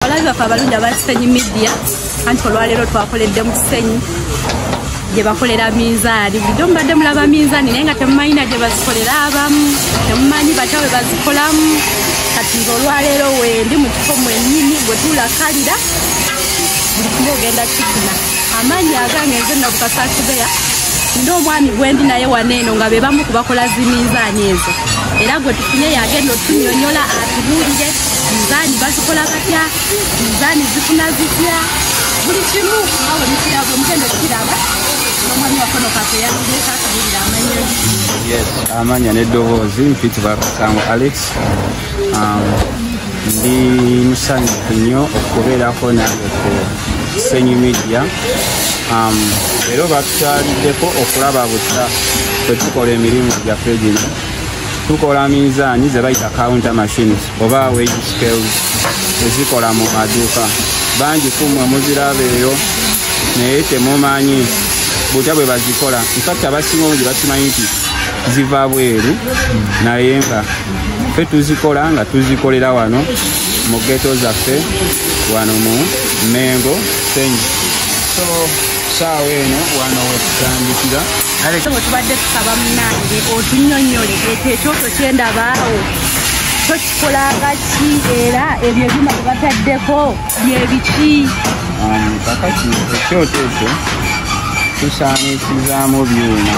abalabi bafe abalungi aba kisenyi media anti olwaleero twakoledde mu kisenyi gye bakolera minzaani bulijjo mubadde mulaba minzaani naye nga temumanyina gye bazikolera abamu temumanyi batya bwe bazikolamu kati nze olwaleero wendi mu kifo mwenyini bwe tulakalira buli kimu ogenda kikuna amaanyi agange nze nabukasaakibeya nina omwami gwendi naye waneeno nga be bamu kubakola ziminzaani ezo era gwe tufunye yagenda otunyonyola atubuulire Dizaani bazikola batya? Dizaani zifuna zitya? Buli kimu awo nikiraba omugendo kiraba omwami wakono kake yaludde kakubirira amanya yes amanya n'eddoboozi mpiti bakasango alex um, ndi musanyufu nnyo okubeerako nange ku senyu media um, era oba tukyaliddeko okulaba butya kwetukola emirimu gyaffe gino tukola minzaani ze bayita counter machines oba wage scales ezikola mu maduuka bangi kumwe muziraba eyo naye temumanyi butya bwe bazikola infact abasinga omu gye bakimanyi nti ziva bweru naye nga fe tuzikola nga tuzikolera wano mu geto zaffe wano mu mengo senyi so saawa eno wana wetutandikira kale tubadde tusaba munange otunyonyole ekyo ekyoto kyendabaawo tokikolanga ki era ebyo ebyuma byebataddeko byebiki um, kakati ekyoto ekyo tusaanisizamu byuma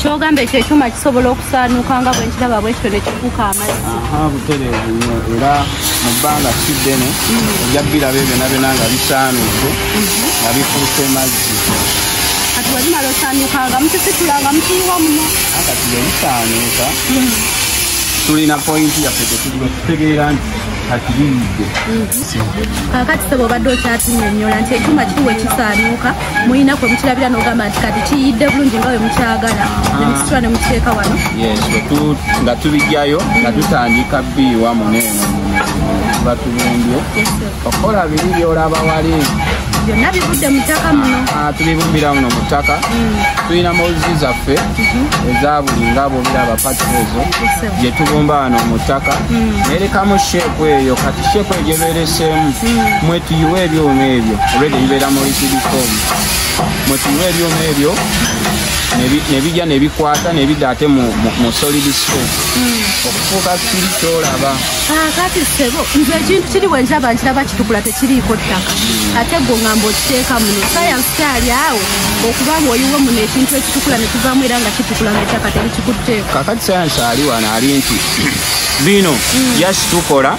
kyogamba ekyo ekyuma kisobola okusaanuuka nga bwenkiraba bwekityo nekifuuka amazzi aha butereevu nyo era mu bbanga si ddene ojja biraba ebyona byona nga bisaanuuke nga bifuuse mazzi kati webimala osaanuuka nga mukisitula nga mukiyiwa muno kati bwebisaanuuka tulina pointi yaffe tetuliwe tutegeera nti kakiriyidde kakati sebo obadde okyatunyonyola nti ekyuma kituwe kisaanuuka mulina kwe mukirabira nogamba nti kati kiyidde bulungi nga we mukyagala ah. nemusitula ne mukiteeka wano nga tubijjayo nga tutandika biiwa muneeno batubumbye okukola biri byolaba wali byonna bivudde mu ttaka muno ah, tubibumbira muno mu ttaka mm. tulina mozi zaffe mm-hmm. eza buli nga bwobiraba pati ezo gye tubumba wano mu ttaka mm. nerekamu sheeku eyo kati sheeku eyo gyebeereseemu mm. mwetuyiwa ebyuma ebyo olwedde bibeera muli sirikomu mwe tuyiwa ebyuma ebyo nebija nebikwata nebida ate mu solid space hmm. okufuuka kiri kyolaba ah, kati sebo nze ekintu kiri bwenjaba nkiraba kitukula tekiriiko ttaka hmm. ate gwo ngamba okiteeka muno sayansi kyali awo okuba nga oyiwe muno ekintu ekitukula nekivaamu era nga kitukula nga ettaka terikikutteeko kakati sayansi ali wano ali nti bino hmm. yasitukola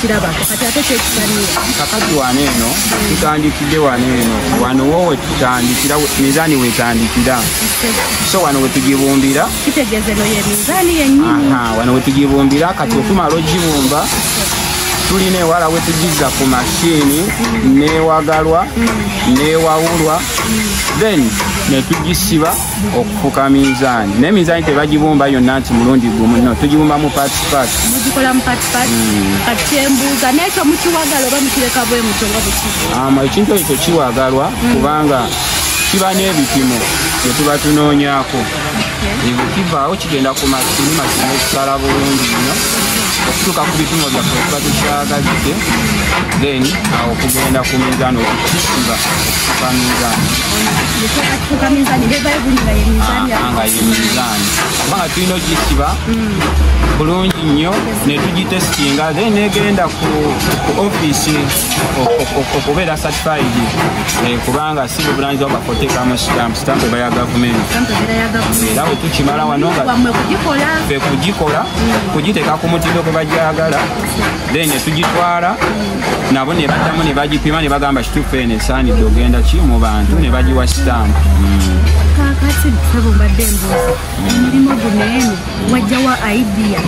kiraba kati ate kyekisanira kakati wano eno tutandikidde wano eno wano wo wetutandikira mizaani wetandikira so wano wetugibumbira kitegeeza eno ye mizaani yenyini wano wetugibumbira kati okumala ogibumba tulina ewala wetugizza ku mashini newagalwa newawulwa then netugisiba okufuka minzaani naye minzaani tebagibumba yonna nti mulundi gumu no tugibumba mu patipat mugikola mu patipat hmm. kati kyembuuza naye kyo mukiwagala oba mukireka bwe mutyo nga bwekii ekintu ekyo kiwagalwa hmm. kubanga kiba n'ebipimo bye tuba tunoonyako ebyo kivaawo kigenda ku masini masini ekisala bulungi nnyo okutuuka ku bipimo byaffe okuba tukyagalidde then awo okugenda ku minzaani okukisiba okutuka minzaani kubanga tulina ogisiba bulungi nnyo netugitesitinga then negenda ku offiisi okubeera certified eh, kubanga si buvunanyizibwa bwafotekamu sitampu sitampu eba ya gavumenti era bwe tukimala wano nga fe kugikola kugiteeka ku mutindo gwe bagyagala then netugitwala nabo nebaddamu nebagipima nebagamba kituufu eno esaanidde ogenda ki mu bantu nebagiwa sitampu kakati sebo mbadde embuuzi emirimu guno eno wajjawa idea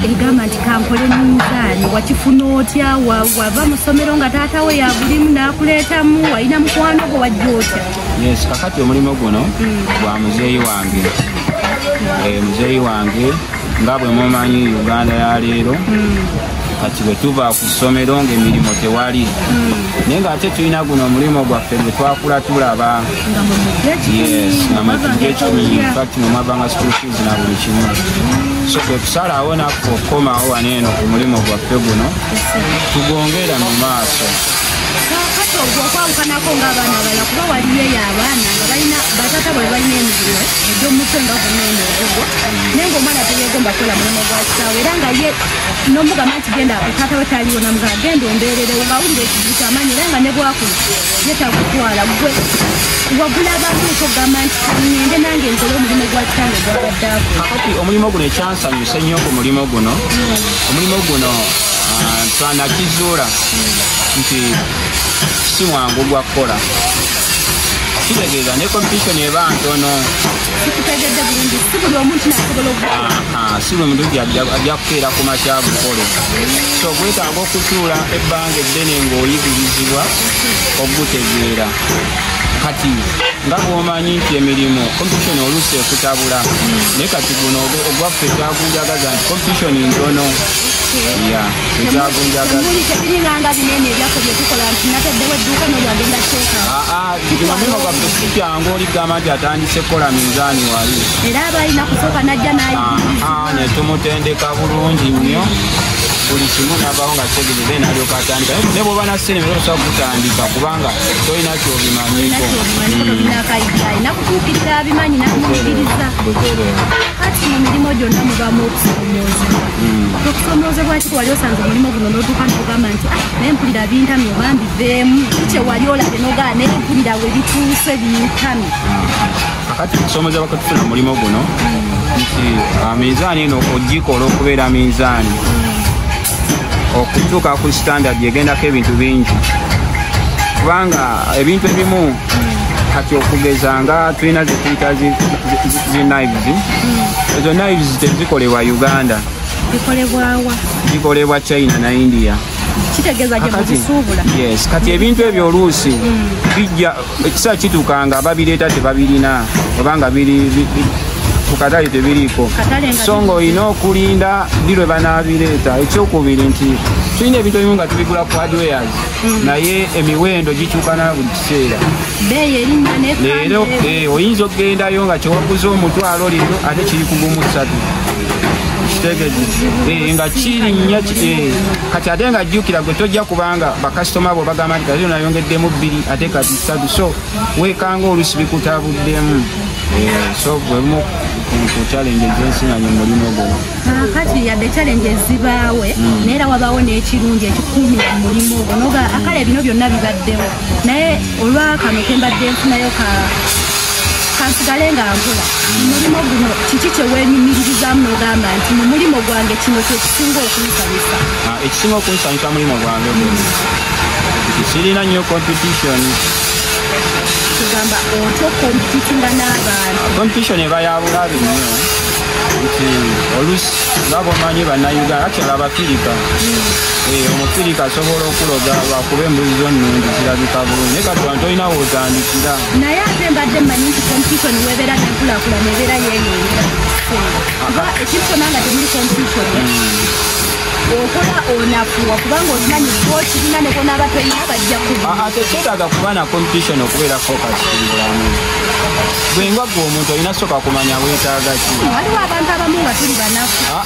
egamba nti kankole minzaani wakifuna otya wava mu ssomero nga taata we yabulimu n'akuleetamu walina mukwano gwo wajja otya yes kakati omulimu guno hmm. gwa muzeeyi wange eh, muzeeyi wange nga bwe mumanyi uganda ya leero kati bwe tuva ku ssomero ng'emirimu tewali naye ng'ate tulina guno omulimu gwaffe gwe twakula tulaba namagekifakti nomwavanga school fees na buli kimu so kwe kusalawo naffe okukomawo wano eno ku mulimu gwaffe guno tugongera mu maaso okwabukanako ngaabaana abala kuba waliyo eyo abaana nga balina batata bwe balina emirimu egyomutwe nga gunaeneogo naye ngaomwana teyegomba kukola mulimu gwa kitaawe era nga ye nomugamba nti genda taata we taliwo namugamba genda ombeererewo ngawulira ekizibu kyamanyi era nga nebwakulu ye takutwala gwe wagula abantu okugamba nti ngende nange nkole omulimu gwa kitange gwabadde ako kakati omulimu guno ekyansanyusa ennyo ku mulimu guno hmm. omulimu guno ah, twanakizuula nti si mwangu gwa kukola kitegeeza ne kompetitioni eba ntono kikutegedde bulungi si buli omuntu nasobola ah, si buli muntu ajja kukeera ku makya bukole so gwetaaga okutuula ebbanga eddene ng'oyigirizibwa okugutegeera kati nga bwomanyi nti emirimu competition oluusi ekutabula naye kati guno ogwaffe kyagunjagaza nti competition ntono ya ekyagunjagaza Ekimamino kwa Kristo kyangu oli gamba nti atandise kukola minzaani wali. Era abalina kusooka n'ajja n'ayigiriza. Ah, ne tumutendeka bulungi nnyo buli kimu navaho nga tegere then alyoka atandika ne bwoba na sente naye osobola kutandika kubanga tolina kyobimanyiko nakutuukirira abimanyi nakumukiriza kati mu mirimu gyonna mubamu okusomooza hmm. okusomoozebwaki wali osanze omulimu guno n'otuuka nokugamba nti ah, naye mpulira bintamye obambi baddemu kyewali olabye nogala naye mpulira we bituuse binkami kakati okusoomoza bakatufuna omulimu guno nti ah, minzaani eno ogikola okubeera minzaani okutuuka ku standard egendako ebintu bingi kubanga ebintu ebimu kati okugeza nga tulina zetuyita zinives ezo nives tezikolebwa uganda zikolebwa china na india kati ebintu ebyo oluusi mm. bijja ekisaa kituuka nga babireeta tebabirina obanga ku katale tebiriiko so nga olina okulinda ddi lwe banaabireeta ekyokubiri nti tulina ebintu ebimu nga tubigula ku hardwares mm. naye emiwendo gikyukana buli kiseera leero eh, oyinza okugendayo nga kyewaguza omutwalo lero ate kiri kugumu ssatu Eh, nga kirinnya eh, kati ate nga jjukira gwe tojja kubanga bakasitoma bo bagamba nti kati nayongeddemu bbiri ate kati ssatu so weekanga olusi bikutabuddemu eh, so bwemu ku challenge ezensinanya omulimu gwo ah, kati yadde challenge ezibaawe hmm. naye era wabaawo n'ekirungi ekikuumira mu mulimu ogwo noga akale bino byonna bibaddewo naye olwa kano kembadde nfunayo ka kansigale nga nkola omulimu guno kiki kyewenyumiririzaamu nogamba nti mu mulimu gwange kino kyekisinga okunsanyusa ah, ekisinga okunsanyusa mulimu gwange kirina nnyo competition kugamba otya okompetitinga n'abantu competition eba yabulabi nnyo nti olusi nga bomanyi bannayuganda akyala abafirika hmm. Eh, omusirika asobola okuloga lwakuba embuzi zo nnungi zirabika bulungi naye kati wantu olina wotandikira naye ate mbadde mmanyi nti competition webeera nenkulakulana ebeera yeyongera kuba ekisona nga temuli competition hmm. okola onafuwa kubanga okimanyi okirina nekonaaba tolina bajja kuba ah, ah, tekyetaaga kuba na competition okubeera focus mubulamu bwenga gwe omuntu olina soka kumanya wetaaga ki waliwo abantu abamu nga tuli banaku ah,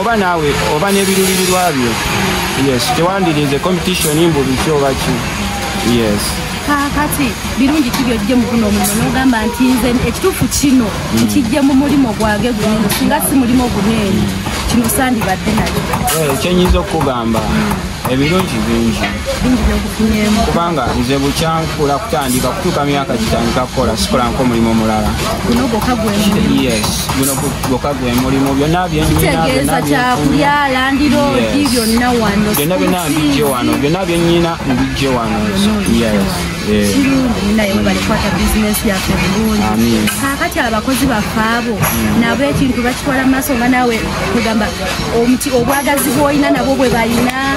oba naawe oba n'ebirulirirwa byo yes tewandirinze competition mbu biki oba ki yes kakati birungi ki byojje mu guno omulimu n'ogamba nti nze ekituufu kino hmm. nkijje mu mulimu gwage guno singa si mulimu oguneeyi kino sandibadde nayo eh, kyenyinza okukugamba hmm. ebirungi bingi bingi byenkufunyemu kubanga nze bukyankula kutandika kutuuka myaka gitandika kukola sikolanko omulimu omulala guno gwokka gwe mulimu byonna byentegeeza kyakulya landiroodi byonna wano byonna byonna mbijje wano byonna byenyina mbijje wano kirungi naye webale kwata bizinesi yaffe bulungi kakati abakozi baffe abo mm. nabo ekintu bakitwala mu maaso nga naawe kugamba omuti obwagazi bwolina nabo bwe balina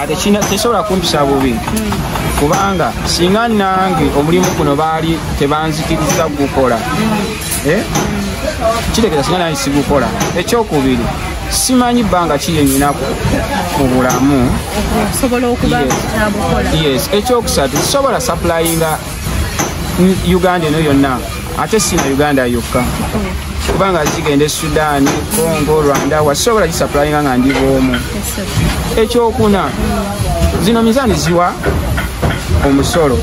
ate kina tesobola kumpisa bubi kubanga singa nange omulimu guno baali tebanzikiriza gukola eh? kitegeza singa nange sigukola ekyokubiri simanyi bbanga kiyenyinako mu bulamu ekyokusatu sisobola saplayinga uganda eno yonna ate si na uganda yokka kubanga zigenda e sudaani congo rwanda wasobola gisapulainga nga ndi bwomu ekyokuna zino mizaani ziwa omusolo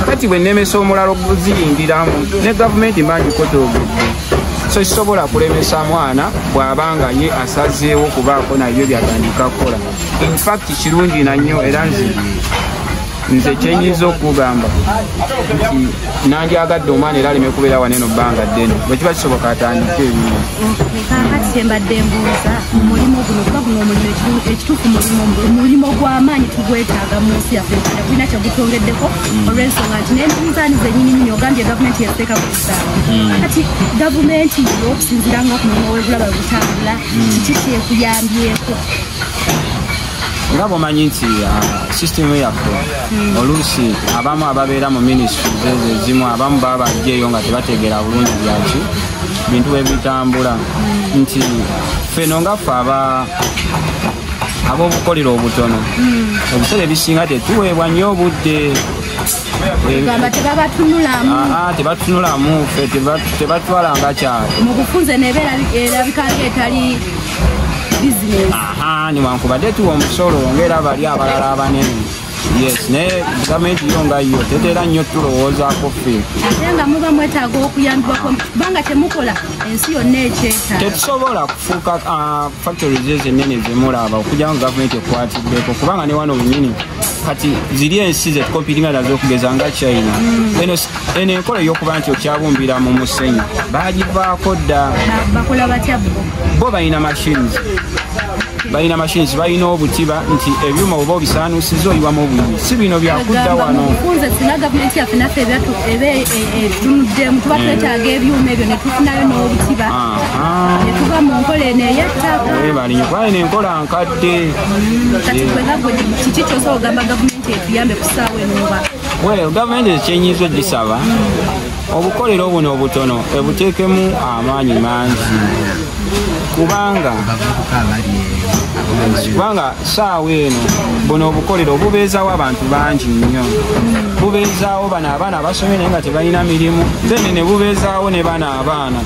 kati bwe nemesa omulala okuziyingiramu ne gavumenti mbangikotoogedde so kisobola kulemesa mwana bw'aba nga ye asazeewo kubaako nayo byatandika kukola infact kirungi nannyo era nzii nze kyenyinza okugamba nti nandyagadde omwana era aleme kubeera wana eno bbanga ddene bwe kiba kisoboka atandika ebimu kakati kyembadde mbuuza omulimu guno kuba guno omulimu ekituufu mulimu mulimu gw'amaanyi tugwetaaga mu nsi yaffe uganda kulina kyegutongeddeko mm. olw'ensonga nti n'eminzaani zenyininyini ogambye gavumenti yateeka ku kisaawa mm. kati gavumenti yo okusinzira nga ku mulimu w'ebulaba butambula mm. kiki kyekuyambyeko nga bwomanyi nti uh, sisitemu yaffe hmm. oluusi abamu ababeera mu minisitri zezo ezimu abamu baba bajjeeyo nga tebategeera bulungi byaki bintu bwebitambula hmm. nti feno nga ffe aba ab'obukolero obutono hmm. ebiseera ebisinga tetuweebwa nnyo obudde tebatunulamu fe tebatwala nga kyalo mu bufunze nebeera erabika nga etali newankubadde tuwa omusolo ngaera bali abalala abanene yes naye gavumenti yo nga yo tetera nnyo tulowoozaako ffe ate nga muba mwetaaga okuyambibwako kubanga temukola ensi yonna ekyetaaga tetusobola kufuuka ah, factories ezo ennene zemulaba okujja nga gavumenti ekwatiddeko kubanga ne wano wenyini kati ziri ensi zetukompitinga nazo okugeza nga china mm. eno enkola ey'okuba nti okyabumbira mu musenyu bagivaako dda bo balina machines balina machines balina obutiba nti ebyuma oba obisaanusiza oyiwamu obulumi si bino byakudda wano ebalinyo kubali nenkola nkadde mm, Well, gavumenti ekyenyiza ogisaba obukolero buno obutono ebuteekemu amaanyi mangi kubanga kubanga saawa eno buno obukolero bubeezawo abantu bangi nnyo bubeezawo bano abaana abasomye naye nga tebalina mirimu then ne bubeezawo ne bano abaana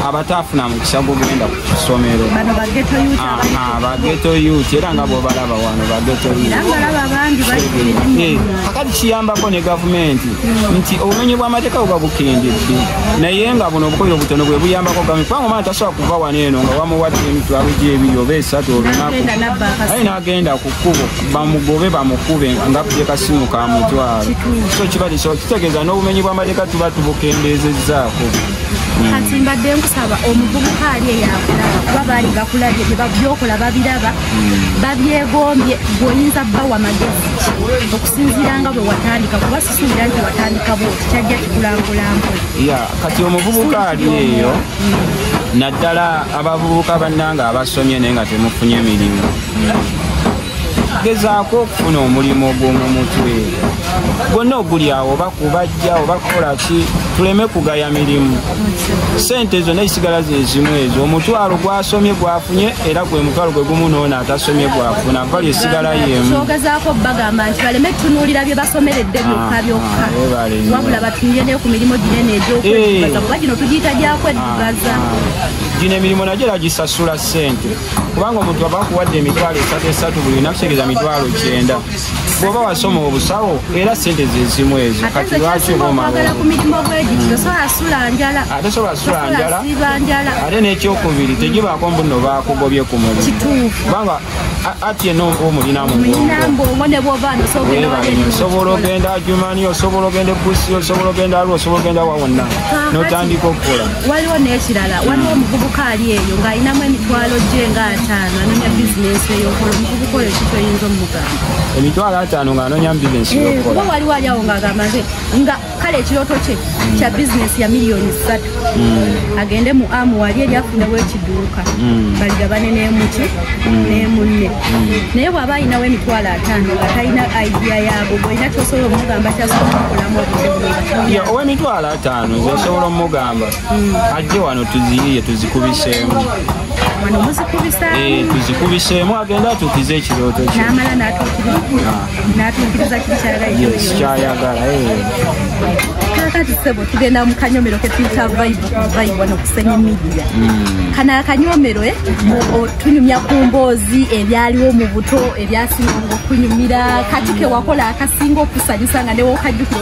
abataafuna mukisa gugenda ku kisomero bageto yut era nga bwobalaba wano bagetokati eh, kiyambako ne gavumenti hmm. nti obumenyi bwamateeka buba bukendedde naye nga buno obukoyo obutono bwe buyambako gavumenti kubanga omwana tasobola kuva wano eno nga wamuwadde emitwalo gyebiri oba esatu olunaku aye nagenda ku kkubo bamugobe bamukube nga kuje kasimu ka mutwalo so kiba kitegeeza n'obumenyi bwamateeka tuba tubukendeezezzaako kati mbadde nkusaba omuvubuka ali eyakulaba kuba baali bakulabye byokola babiraba hmm. babyegombye gweoyinza bawa magezi okusinziira nga bwe watandika kuba sisuubira nti watandika bwo kyajja kikulangulambu kati omuvubuka ali eyo hmm. naddala abavubuka bannanga abasomye naye nga temufunye mirimu hmm. gezaako okufuna omulimu ogw'omu mutwe gwonna ogulyawo oba kubajja oba kukola ki tuleme kugaya mirimu sente ezo naye sigala zezimu ezo omutwalo gwasomye gwafunye era gwe mutwalo gwe gumu noona atasomye gwafuna vali esigala yemukyogezako bagamba nti baleme tunuulira bye basomeredde byokka ah, byokka ah, wabula batunire neyo ku mirimu ginene egyokwebaza eh. kuba gino tugiyita gyakweddugaza ah, gino emirimu nagyo era gisasula sente kubanga omuntu aba akuwadde emitwalo esatu esatu buli lunaku kitegeeza mitwalo kyenda bwoba wasoma obusawo era sente zezimu ezo kati lwaki oba ate sobola sula njala ate n'ekyokubiri tegibaako mbuno bakugobye ku mulimu kubanga ati eno omulina musobola ogenda jumani osobola ogenda ebusi osobola ogenda alwa osobola ogenda wawonna notandika okukola waliwo nekirala waliwo hmm. omuvubuka ali eyo ng'alinamu emitwalo gye nga ataano anonya bizinensi eyokola omuvubuka oyo ki kyoyinza omugamba emitwalo ataano ng'anonyamu bizinensi eh, yokuba waliwo ali awo ng'agamba nze nga kale ekirooto kye hmm. kya bizinensi ya miliyoni ssatu hmm. agende mu amu wali eri afunewo ekiduuka baligabane n'emuki n'emunne naye bw'aba alinawo emitwalo ataano nga talina idea yaago bwolina kyosobola omugamba kyasobola okukolamu obuzibu ya ow'emitwalo ataano nze nsobola omugamba mm. ajje wano tuziyiye tuzikubiseemu eh, tuzikubiseemu agenda atuukiza ekirooto kyekyayagala ah. eh. kakati sebo tugenda mu kanyomero ketuyita vibe no kusenya media mm. kana akanyomero eh, tunyumya ku mboozi ebyaliwo mu buto ebyasinga okunyumira kati kewakola akasinga okusanyusa nga newokajjukira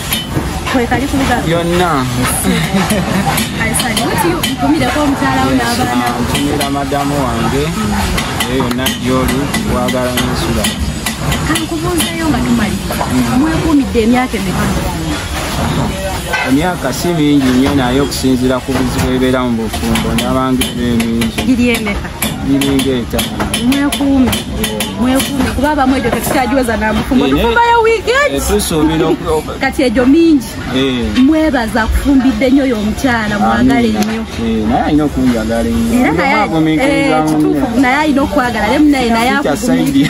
kwekali kuluga yonna nkumireko omukyala wo n'abaana nkumira madamu wange eyo yonna gyoli wagala nensula kankubuuzeyo nga tumalira mwekuumidde emyaka emeka emyaka si mingi nnyo naye okusinziira ku bizibu ebibeera mu bufumbo n'abangeera emingi miringa etaano mwekuume mwekuume kuba abamu egyo tetukyagiweza namufumbo tufumbayo wiiki etusuubira kati egyo mingi mwebaza akufumbidde nnyo oyo omukyala mwagale nnyo naye alina okunjagala ennyoekituufu naye alina okwagala naye munaye naye akufumbidde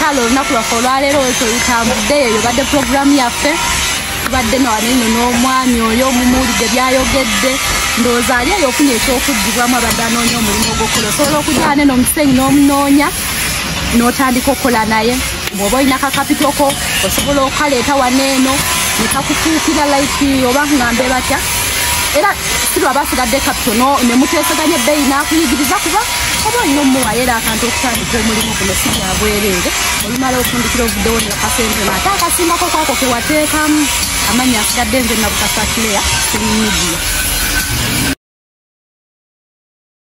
kale olunaku lwaffe olwaleero wetolutambudde eyo yobadde puroguramu yaffe tubadde nawaneno n'omwami oyo omumuwulidde byayogedde ndowooza ali eyo ofuna ekyokuddibwamu abadde anoonya omulimu ogwokukola osobola okujaa neno omusenyi n'omunoonya n'otandika okukola naye bwoba olina kakapitoko osobola okukaleeta waneeno nekakufuukira like oba ngambe batya era sirwa basigadde kapito nemuteeseganya ebbeyi n'akuyigiriza kuba oba olina omumuwayo era akantu okutandika omulimu guno si gya bwereere olumala ofundikira ovuddewo ne akasente no ate akasimbako kwako ke wateekamu amannya asigadde nze nabukasa clare kuli midiya